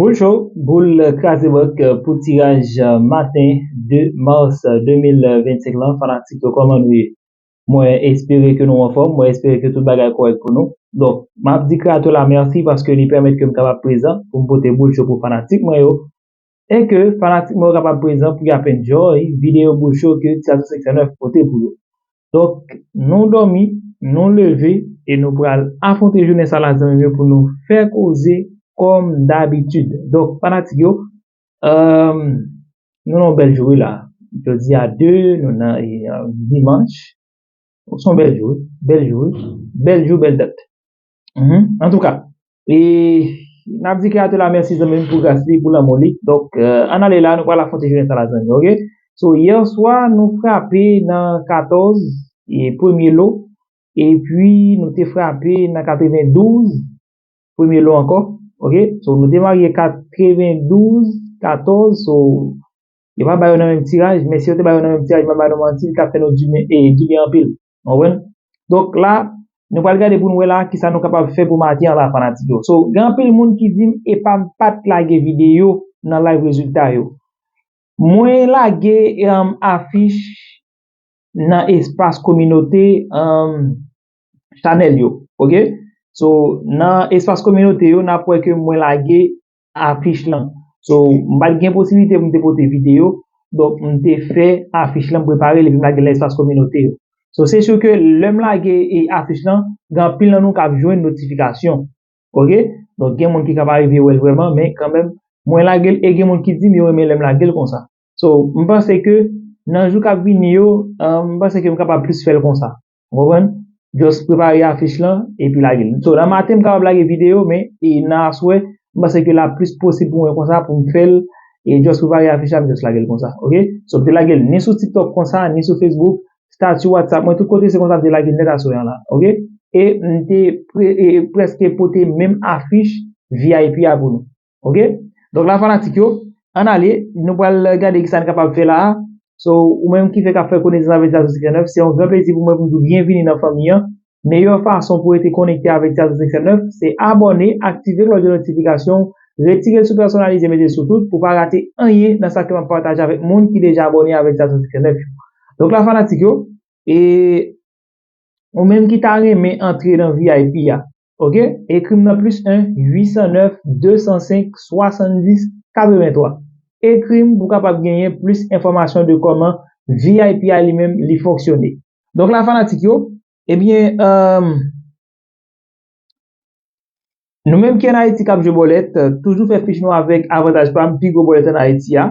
Bonjou boul kraze bank pou tiraj maten 2 mars 2025 lan fanatik yo kòman nou ye mwen espere ke nou anfòm mwen espere ke tout bagay kòrèk pou nou donk map di kreator la mèsi paske li pèmèt kem kapab prezan poum pote boul cho pou fanatik mwen yo e ke fanatik mwen yo kapab prezan pou y ap enjoy videyo bouch yo ke Ti Atis 509 pote pou yo. Donk nou dòmi, nou leve e nou pral afwonte jounen sa la zanmi m yo pou nou fè koze kòm dabitid. Donk fanatik yo, nou nan yon bèl jou wi la. Jodi a 2 nou nan dimanch. Son bèl jou wi, bèl jou wi, bèl jou bèl dat. Antouka N ap di kreyatè la mèsi zanmi m pou gras li pou lanmou li Donk ann ale la nou pral afwonte jounen sa la zanmi ok So yèswa nou frape nan 14 premye lo epi nou te frape nan 92 premye lo ankò ok So nou te marye 92 14 So yo pa ba yo nan menm tiraj men si yo te ba yo nan menm tiraj m pa ba nou manti li ta fè nou dibyen anpil Nou konprann? Donk la, nou pral gade pou nou wè la ki sa nou kapab fè pou make anba fanatik yo. So, gen anpil moun ki di m epa m pa t lage videyo nan live rezilta yo. Mwen lage afich nan espas kominote chanèl yo. Ok? So, nan espas kominote yo, n ap wè ke mwen lage afich lan so m pat gen posiblite pou m te pote videyo donk m te fè afich lan m prepare l epi m lage l nan espas kominote yo so se su ke lè m lage afich lan gen anpil nan nou k ap jwenn notifikasyon ok donk gen moun ki ka pa rive wè l vrèman men kanmèm mwen lage l e gen moun ki di m yo renmen lè m lage l konsa so m panse ke nan jou k ap vini yo m panse ke m kapab plis fè l konsa. Ou konprann? Just prepare afich lan epi lage l. So nan maten m kapab lage videyo men e nan aswè m panse ke la plis posib pou mwen konsa pou m fè l e just prepare afich la m just lage l konsa ok. So m te lage l ni sou tiktok konsa ni sou facebook, stati whatsapp mwen tout kote se konsa m te lage l nèt aswè an la ok. E m te prèske pote menm afich vip a pou nou. Ok, donk la fanatik yo, an ale, nou pral gade ki sa n kapab fè la a. So, ou menm ki fèk ap fè konesans avèk Tiato 509, se yon gran plezi pou mwen pou m di w byenvini nan fanmi an. Meyè fason pou rete konekte avèk Tiato 509, se abòne, aktive klòch de notifikasyon, retire l sou pèsonalize mete l sou tout pou w pa rate anyen nan sa ke m ap pataje avèk moun ki deja abòne avèk Tiato 509 yo. Donk la fanatik yo, e ou menm ki ta renmen antre nan vip a, ok ekrim nan plis 1 809 205 70 83 ekrim pou kapab genyen plis enfòmasyon de kòman vip a li menm li fonksyone donk la fanatik yo ebyen eemm nou menm ki an ayiti kap jwe bòlèt toujou fè fich nou avèk avantaj pam pi gwo bòlèt an ayiti a.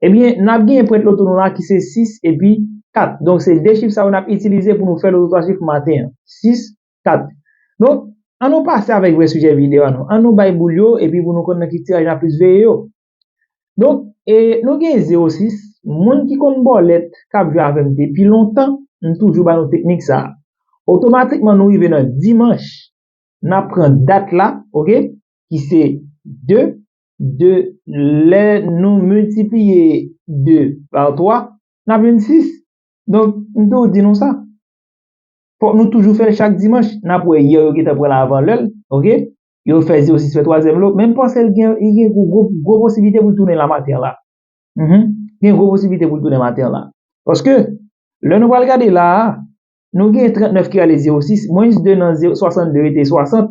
Ebyen, n ap genyen prent loto nou la ki se 6 epi 4. Donk, se 2 chif sa yo n ap itilize pou nou fè loto 3 chif maten an. 6, 4. Donk, an nou pase avèk vrè sijè videyo a nou. An nou bay boul yo epi pou nou konn nan ki tiraj n ap plis veye yo. Donk, e, nou gen 0, 6. Moun ki konn bòlèt, k ap jwe avè m depi lontan, m toujou ba nou teknik sa a. Otomatikman nou rive nan dimanch, n ap pran dat la, oke, ki se 2, 2, lè nou miltipliye 2 pa 3, n ap jwenn 6. Donk, m toujou di nou sa, fòk nou toujou fè l chak dimanch. N ap wè yè yo gentan pran l avan lè l, ok, yo fè zero sis fè twazyèm lo, men m panse l gen gwo posiblite pou l tounen la maten la. Li gen gwo posiblite pou l tounen maten la. Paske, lè nou pral gade la a, nou gen 39 ki ale zero sis, mwens 2 nan 62 rete 60,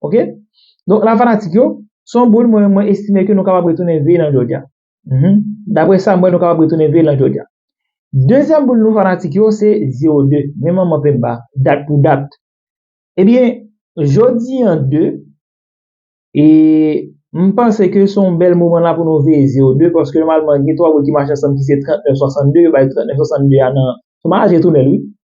Ok Donk la fanatik yo Se yon boul mwen mwen estime ke nou kapab retounen veye lan Jodya Dapre sa m wè nou kapab retounen veye lan Jodya Dezyèm boul nou fanatik yo se 02 Men manman penmba Dat pou dat Ebyen Jodi an 2 E M panse ke se yon bèl moman la pou nou veye 02 paske nòmalman gen 3 boul ki mache ansanm ki se 39 62 yo bay 39 62 a nan Sou manaj retounèl wi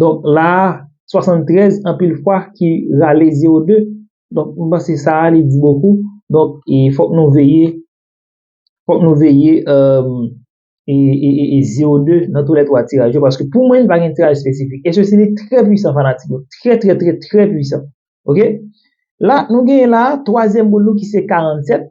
Donk la a, 73 anpil fwa ki rale 02. Donk mwen panse sa a li di bokou. Donk e fòk nou veye, fòk nou veye e 02 nan tou lè 3 tiraj yo. Paske pou mwen li pa gen tiraj espesifik. E se si li trè pwisan fanatik yo. Trè trè trè trè pwisan. Ok? La nou gen la a, twazyèm boul nou ki se 47.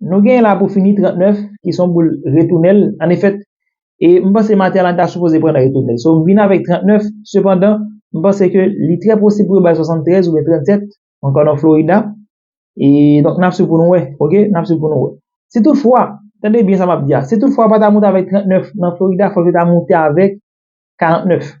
Nou genyen la pou fini 39 ki son boul retounel an efèt e m panse Materlan ta sipoze pran nan retounel so m vin avèk 39 sepandan m panse ke li trè posib pou yo bay 73 oubyen 37 ankò nan Florida e donk n ap swiv pou nou wè ok n ap swiv pou nou wè si tout fwa tande byen sa m ap di a si tout fwa yo pa ta moute avèk 39 nan Florida fòk yo ta moute avèk 49.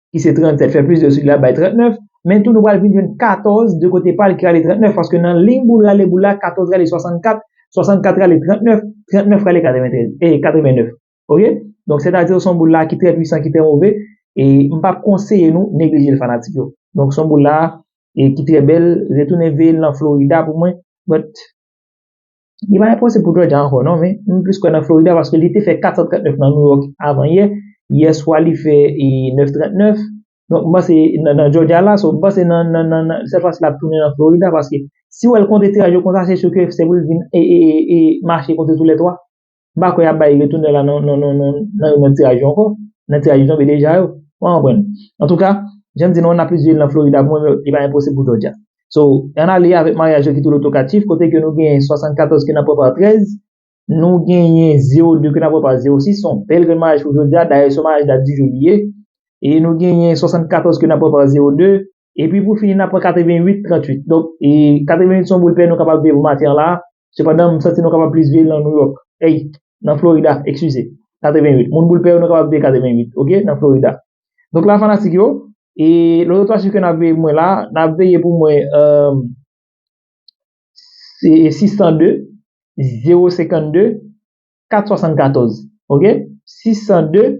ki se 37 fè plis 2 sou li ap bay 39, men tou nou pral vin jwenn 14 de kote pa l ki rale 39 paske nan liy boul rale boul la 14 rale 64, 64 rale 39, 39 rale 93 e 89 ok donk sètadi son boul la ki trè pwisan ki trè move e m pap konseye nou neglije l fanatik yo donk son boul la e ki trè bèl retounen veye l nan florida pou mwen but. Li pa enposib pou Jòjya ankò non, men m plis kwè nan Florida paske li te fè 439 nan Nouyòk avan yè, yè swa li fè 939, donk m panse nan Jòjya la, so m panse nan nan nan sèt fwa si lap tounen nan Florida paske si wè l konte tiraj yo konsa se su ke se pou l vin mache konte tou lè 3. M pa kwè y ap bay retounè la nan nan nan nan yon lòt tiraj yo ankò. Nan tiraj yo tonbe deja yo. Ou konprann? Antouka, jan m di nou an n ap plis viv nan Florida pou mwen men li pa enposib pou Georgia. So, ann ale avèk maryaj yo ki tou lotokatif kote ke nou genyen 74 ke n ap wè pa 13, nou genyen 02 ke n ap wè pa 06, s on bèl grenn maryaj pou Georgia, dayè s on maryaj dat di jou li ye, e nou genyen 74 ke n ap wè pa 02, E pi pou fini n ap pran 88, 38. Donk, 88 se yon boul pè nou kapab viv maten la. Sepandan, m santi nou kapab plis viv nan Nouyòk. Ey, nan Florida, ekskize. 88. Moun boul pè yo nou kapab viv 88, ok, nan Florida. Donk la fanatik yo, e lòt ou twa chif ke n ap veye pou mwen la, n ap veye pou mwen 602, 052, 474. Ok? 602.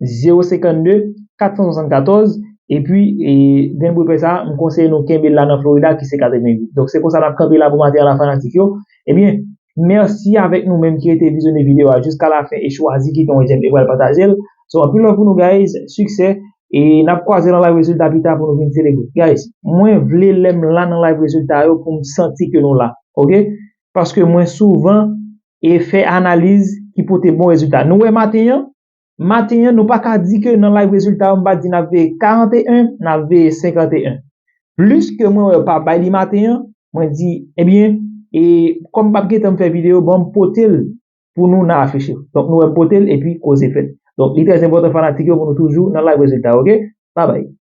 052 474 epi grenn bouyi pè sa m konseye nou kenbe l la nan Florida ki se 88 donk se konsa n ap kanpe la pou maten an la fanatik yo ebyen mèsi avèk nou menm ki rete vizyone videyo a jiska la fen e chwazi kite yon jèm e pral pataje l so anpil love pou nou guys siksè e n ap kwaze nan live rezilta pita pou nou vin selebre guys mwen vle lè m la nan live rezilta yo pou m santi ke nou la ok paske mwen souvan e fè analiz ki pote bon rezilta nou wè maten an. Maten an, nou pa ka di ke nan live rezilta yo m pa di nap veye 41, nap veye 51. Plis ke mwen wè yo pa bay li maten an, mwen di, ebyen, e kòm m pap gen tan m fè videyo, bon m pote l pou nou nan afiche yo. Donk nou wè m pote l epi koze fèt. Donk li trè enpòtan fanatik yo pou nou toujou nan live rezilta yo ok. Babay.